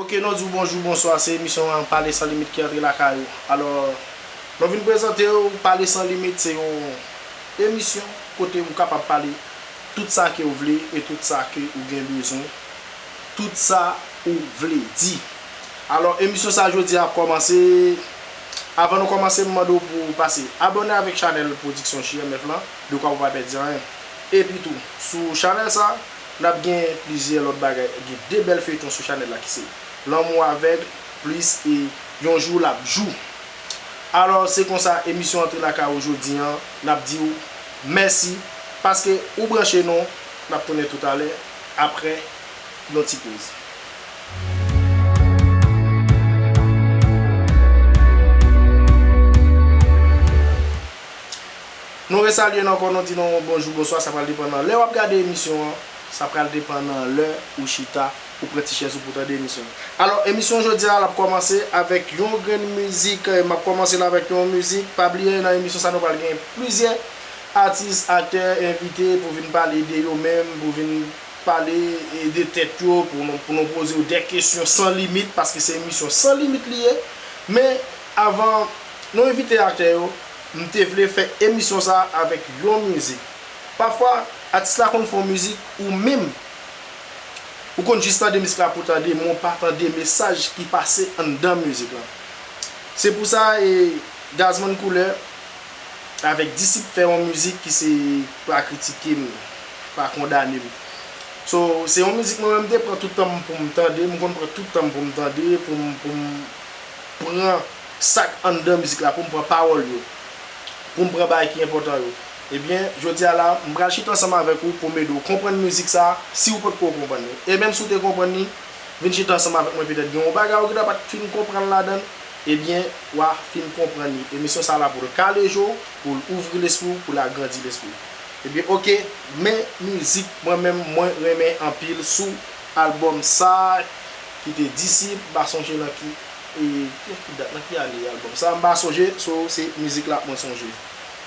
Ok non di w bonjou, bonswa, se emisyon an Pale San Limit ki antre lakay ou. Alò, nou vin prezante w Pale San Limit se yon Emisyon kote ou kapab pale tout sa ke ou vle e tout sa ke ou gen bezwen, tout sa ou vle di. Alò emisyon sa jodi a ap kòmanse, avan nou kòmanse m mande w pou ou pase abòne avèk chanèl Production JMF lan dekwa pou pa pèdi anyen. Epi tou, sou chanèl sa, n ap gen plizyè lòt bagay, gen 2 bèl feyton sou chanèl la ki se, Lanmou avèg plis e Yon jou l ap jou. Alò se konsa emisyon antre lakay ou jodi an nap diw mèsi paske ou branche nou nap tounen toutalè aprè yon ti poz. Nou resalye nou ankò nou di nou bonjou bonswa sa pral depan nan lè wap gade emisyon an sa pral depan nan lè ou chita. Ou pran ti chèz ou pou tande emisyon an. Alò, emisyon jodi a l ap kòmanse avèk yon grenn mizik. M ap kòmanse l avèk yon mizik. Pa bliye nan emisyon sa nou pral gen plizyè atis, aktè, envite pou vin pale de yo menm, pou vin pale de tèt yo, pou nou poze yo dè kesyon san limit, paske se emisyon san limit li ye. Men, avan nou envite aktè yo, m te vle fè emisyon sa a avèk yon mizik. Pafwa, atis la konn fè yon mizik ou menm Ou konn jis tande misk la pou tande men w pa tande mesaj ki pase anndan mizik lan. Se pou sa e Gazman Koulè avèk Disip fè yon mizik ki se pa kritike m, pa kondane m. So, se yon mizik mwen menm m te pran tout tan m pou m tande, m konn pran tout tan m pou m tande, pou m pou m pran sa k anndan mizik la, pou m pran pawòl yo, pou m pran bagay ki enpòtan yo. Ebyen, jodi a la, m pral chita ansanm avèk ou pou m ede w konprann mizik sa a, si ou potko konprann li. E menm si ou te konprann li, vin chita ansanm avèk mwen petèt gen yon bagay ou gentan pa t fin konprann ladan l, ebyen, w a fin konprann li. Emisyon sa a la pou l kale je w, pou l ouvri lespri w, pou l agrandi lespri w. Ebyen oke, men mizik mwen menm mwen renmen anpil sou albòm sa a ki te Disip, m pa sonje nan ki e, nan ki dat, nan ki ane albòm sa a, m pa sonje, so se mizik la mwen sonje.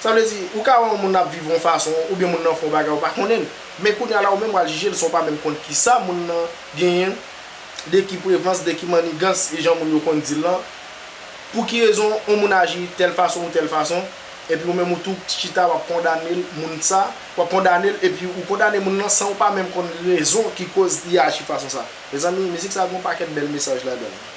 Sa vle di, ou ka wè yon moun ap viv yon fason, oubyen moun nan fè yon bagay ou pa konnen l. Men kounya la ou menm wal jije l san w pa menm konn kisa moun nan genyen, de ki prevans, de ki mannigans, e jan moun yo konn di l lan, pou ki rezon yon moun aji tèl fason ou tèl fason, epi ou menm ou tou chita wap kondane l, moun sa, wap kondane l, epi ou kondane moun lan san ou pa menm konn rezon ki koz li aji fason sa. Mezanmi, mizik sa gen yon pakèt bèl mesaj ladan l.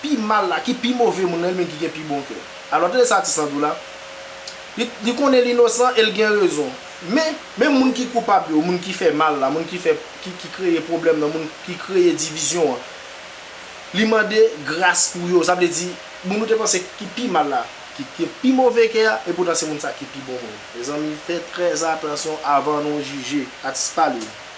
Pi mal la, ki pi move moun nan, li menm ki gen pi bon kè. Alò, tande sa atis lan di w la, Li, li konnen li inosan e li gen rezon. Men, menm moun ki koupab yo, moun ki fè mal la, moun ki fè, ki, ki kreye pwoblèm nan, moun ki kreye divizyon an, li mande gras pou yo. Sa vle di, moun ou te panse ki pi mal la, ki gen pi move kè a, epoutan se moun sa ki pi bon moun. Mezanmi, fè trèzatansyon avan nou jije. Atis pale.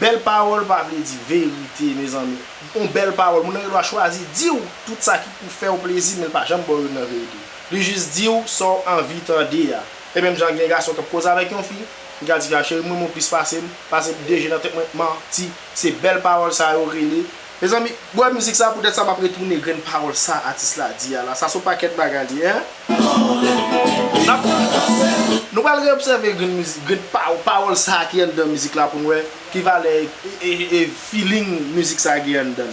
Bèl pawòl pa vle di verite mezanmi. Yon bèl pawòl, moun nan gen dwa chwazi di w tout sa ki pou fè w plezi men l pa janm ba w youn nan verite. Li jis di w sa w anvi tande a. E menm jan gen gason k ap koze avèk yon fi, li ka di fi a cheri m renmen w plis pase m, pase m deje nan tèt mwen, manti. Se bèl pawòl sa yo rele. Mezanmi bwè mizik sa poutèt sa map retounen grenn pawòl sa atis la di a la sa son pakèt bagay li ye hein nap nou pral reobsève grenn mizik grenn pawòl sa ki anndan mizik la poun wè ki valè e feeling mizik sa gen anndan.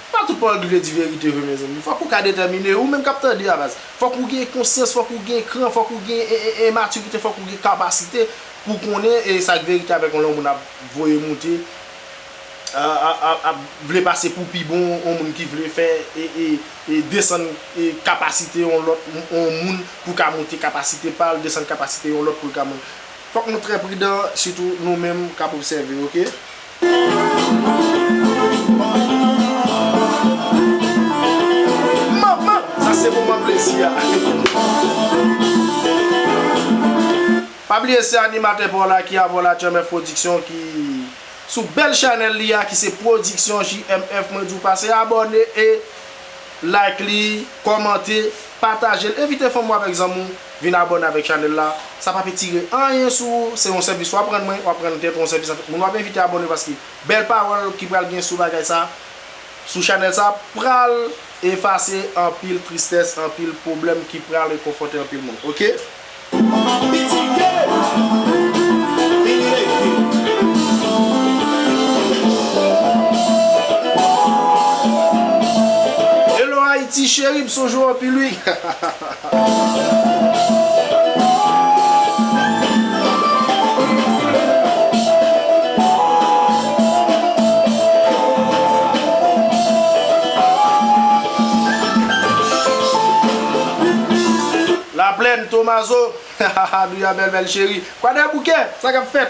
Pa tout pawòl ki vle di verite vre mezanmi. Fòk ou ka detèmine, ou menm k ap tande a baz. Fòk ou gen konsyans, fòk ou gen kran, fòk ou gen en matirite, fòk ou gen kapasite pou w konnen e sa k verite avèk on lè on moun ap voye moute, ap vle pase pou pi bon, on moun ki vle fè e desann kapasite on lòt on moun pou ka moute kapasite pa l, desann kapasite yon lòt pou l ka moun. Fòk nou trè pridan sitou nou menm k ap obsève ok. Manman! Sa se moman plezi a. Pa bliye se animatè pa w la ki avè w la Tchèmèf Production ki sou bèl chanèl li a ki se Production JMF mwen di w pase abòne e like li, kòmante, pataje l, envite fanmi w avèk zanmi w. Vin abone avek chanel la, sa pap etire anyen sou ou, se yon sèvis wap rann mwen, wap rann tèt ou, yon sèvis avek moun wap envite abone paske bèl pawòl ki pral gen sou bagay sa, sou chanel sa pral efase anpil tristès, anpil pwoblèm ki pral rekonfòte anpil moun ok. Hello Haiti cheri, bsonjou anpil wi. Laplèn, Tomazo, Haha, Douya bèl bèl cheri, Kwadèboukè, sa k ap fèt?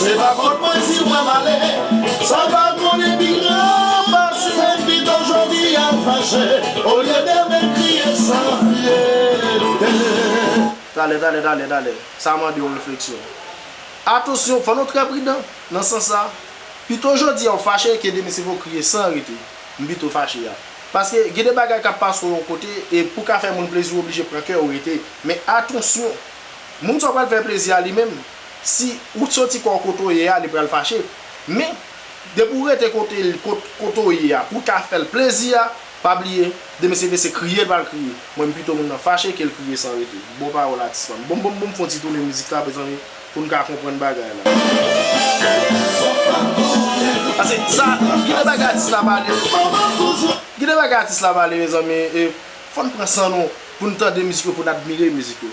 Se pa fòt mwen si mwen male. Sa pa konnen pi gran pase. Mwen pito jodi a fache. Olye demen kriye san fyète. Talè, talè, talè, talè. Sa mande yon refleksyon. Atansyon, fò nou trè pridan nan sans sa. Pito jodi a ou fache ke demen se pou w kriye san rete. M pito fache a. Paske gen de bagay k ap pase w yon kote e pou w ka fè moun plezi ou oblije pran kè ou rete. Men atansyon! Moun sa w pral fè plezi a li menm, Si ou t soti kòw kote w ye a li pral fache men depi ou rete kote l kote w ye a pou w ka fè l plezi a pa bliye demen se vle se kriye l pral kriye mwen m pito moun nan fache ke l kriye san rete bon pawòl atis pam bon bon bon fon ti tounen mizik la mezanmi pou n ka konprann bagay la pase sa gen de bagay atis la pale gen de bagay atis la pale mezanmi fòn pran san nou pou n tande mizik yo pou n admire mizik yo.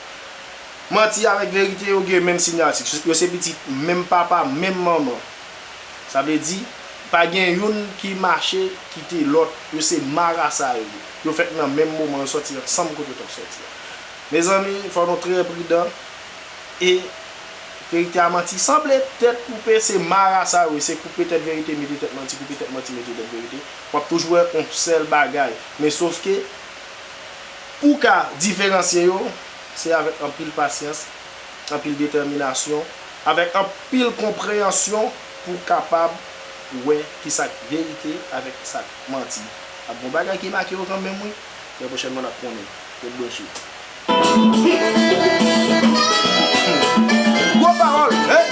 Manti avèk verite yo gen menm sinyati. Yo se pitit menm papa, menm manman. Sa vle di, pa gen youn ki mache kite lòt. Yo se marasa yo ye. Yo fèt nan menm moman, yo sòti ansanm kote yo t ap sòti a. Mezanmi, fò nou trè pridan. E verite a manti. Sanble tèt koupe se marasa yo ye. Se koupe tèt verite mete tèt manti, koupe tèt manti mete tèt verite. W ap toujou wè yon sèl bagay. Men sofke. Pou w ka diferansye yo, se avèk anpil pasyans, anpil detèminasyon, avèk anpil konpreyansyon pou w kapab wè ki sa k verite avèk ki sa k manti. Ap gen yon bagay ki make yo kanmenm wi, trè pwochènman n ap konnen. Ret branche. Gwo pawòl!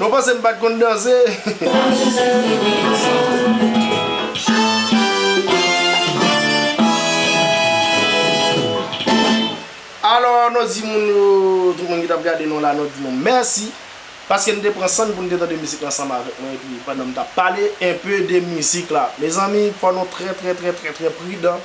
Nou panse m pat konn danse. Alò nou di moun yo tout moun ki tap gade nou la nou di nou mèsi paske nou te pran san nou pou nou te tande mizik la ansanm avèk mwen epi pandan m tap pale enpe de mizik la. Mezanmi fò nou trè trè trè trè trè pridan.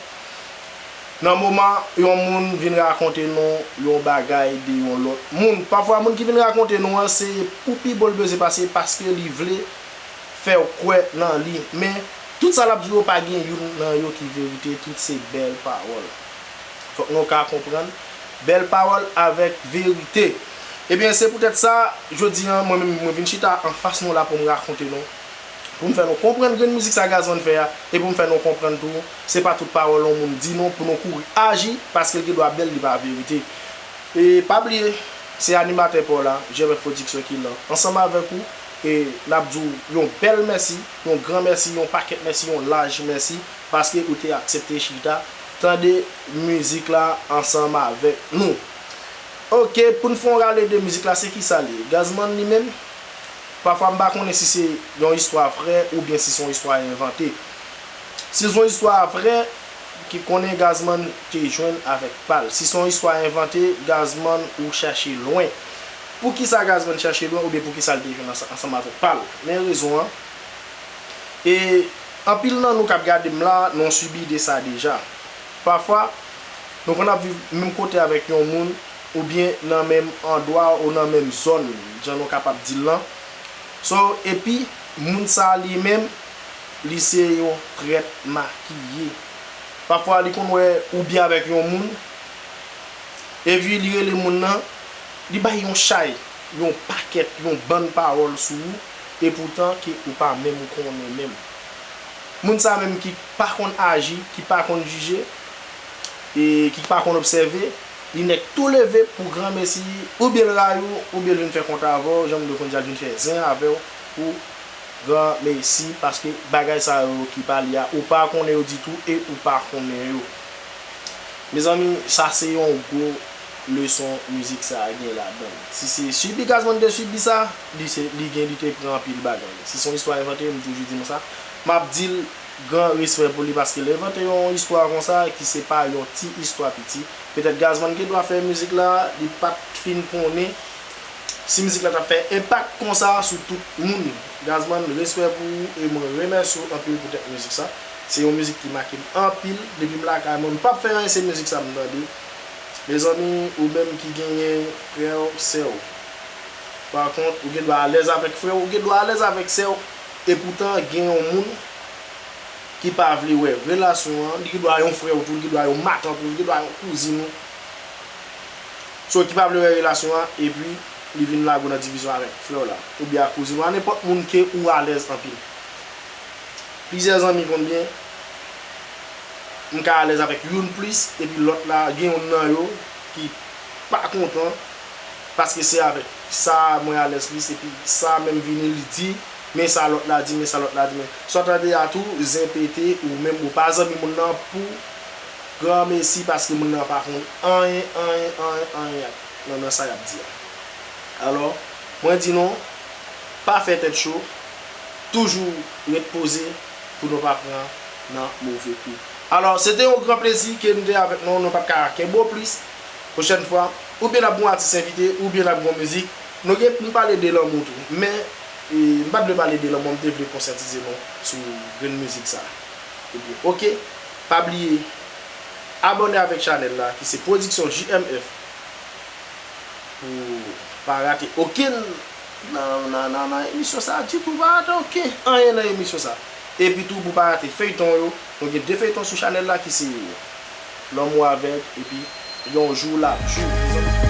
Nan moman yon moun vin rakonte nou yon bagay de yon lòt moun, pafwa moun ki vin rakonte nou an se pou pi bon l bezwen pase paske li vle fè w kwè nan li. Men, tout sa l ap di w yo pa gen youn nan yo ki verite, tout se bèl pawòl. Fòk nou ka konprann bèl pawòl avèk verite. Ebyen, se poutèt sa, jodi an, mwen menm mwen vin chita anfas nou la pou m rakonte nou. pou m fè nou konprann grenn mizik sa Gazman fè a e pou m fè nou konprann tou se pa tout pawòl yon moun di non pou nou kouri aji paske l gen dwa bèl li pa verite e pa bliye se animatè pa w la GMF Production ki lan ansanm avèk ou e n ap di w yon bèl mèsi yon gran mèsi yon pakèt mèsi yon laj mèsi paske ou te aksepte chita tande mizik la ansanm avèk nou ok pou n fè yon rale de mizik la se kisa li ye Gazman li menm? Pafwa m pa konnen si se yon istwa vrè oubyen si se yon istwa envante. Si se yon istwa vrè, ki konnen Gazman te jwenn avèk pa l. Si se yon istwa envante, Gazman ou chache lwen. Poukisa Gazman chache lwen oubyen poukisa l te jwenn ansanm avèk pa l? Men rezon an. E anpil nan nou k ap gade m la, nou an sibi de sa deja. Pafwa, nou konn ap viv menm kote avèk yon moun. oubyen nan menm andwa ou nan menm zòn jan nou kapab di l lan so epi moun sa li menm li se yon trèt makiye pafwa li konn wè ou byen avèk yon moun epi li rele moun nan li bay yon chay yon pakèt yon bann pawòl sou ou epoutan ke ou pa menm konnen menm moun sa menm ki pa konn aji ki pa konn jije e ki pa konn obsève. Li nèk tou leve pou gran mesi ou byen l rayi w ou byen l vin fè kontra avè w janm dwe konn sa l vin fè zen avè w pou gran mesi paske bagay sa yo ki pa li a ou pa konnen yo ditou e ou pa konnen yo mezanmi sa se yon gwo leson mizik sa gen ladan l si se sibi Gazman te sibi sa li se li gen li te pran anpil bagay si son istwa envante m toujou di nou sa m ap di l Gran respè pou li paske lè envante yon istwa konsa ki se pa yon ti istwa piti, petèt Gazman gen dwa fè mizik la, li pat fin konnen si mizik la tap fè enpak konsa sou tout moun. Gazman respè pou ou e mwen remèsye w anpil poutèt mizik sa. Se yon mizik ki make m anpil, depi m lakay mwen m pap fè anyen se mizik sa m tande. Mezanmi ou menm ki genyen frè w, sè w. Par kont ou gen dwa alèz avèk frè w, ou gen dwa alèz avèk sè w. Epoutan gen yon moun ki pa vle wè relasyon an, li gen dwa yon frè ou tou, li gen dwa yon matant ou, li gen dwa yon kouzin ou, so ki pa vle wè relasyon an epi li vin lage w nan divizyon avèk frè w la oubyen ak kouzin ou a nenpòt moun ke ou alèz anpil. Plizyè zanmi konn byen m ka alèz avèk youn plis epi lòt la gen youn nan yo ki pa kontan paske se avèk Sa a mwen alèz li se pi sa a menm vini li di men sa lòt la di men sa lòt la di men sa w tande a tou zen pete ou menm ou pa zanmi moun nan pou granmesi paske moun nan pa konn anyen anyen anyen anyen ak nan nan sa y ap di a alò mwen di nou pa fè tèt cho toujou ret poze pou nou pa pran nan move kou alò se te yon gran plezi ke m te avèk nou nou pa t ka kenbe w plis. Pwochèn fwa, ou byen ap gen yon atis envite, ou byen ap gen yon mizik. Nou gen, nou pale de lanmou tou. Men, m pa t vle pale de lanmou, m te vle konsyantize nou sou grenn mizik sa. Ebyen, ok. Pa bliye abòne avèk chanèl la ki se Production JMF pou w pa rate okenn nan emisyon sa a ditou. Pa rate oken anyen nan emisyon sa a. Epitou pou w pa rate feyton yo. Nou gen 2 feyton sou chanèl la ki se. lanmou avèg epi yon jou lap jou mezanmi.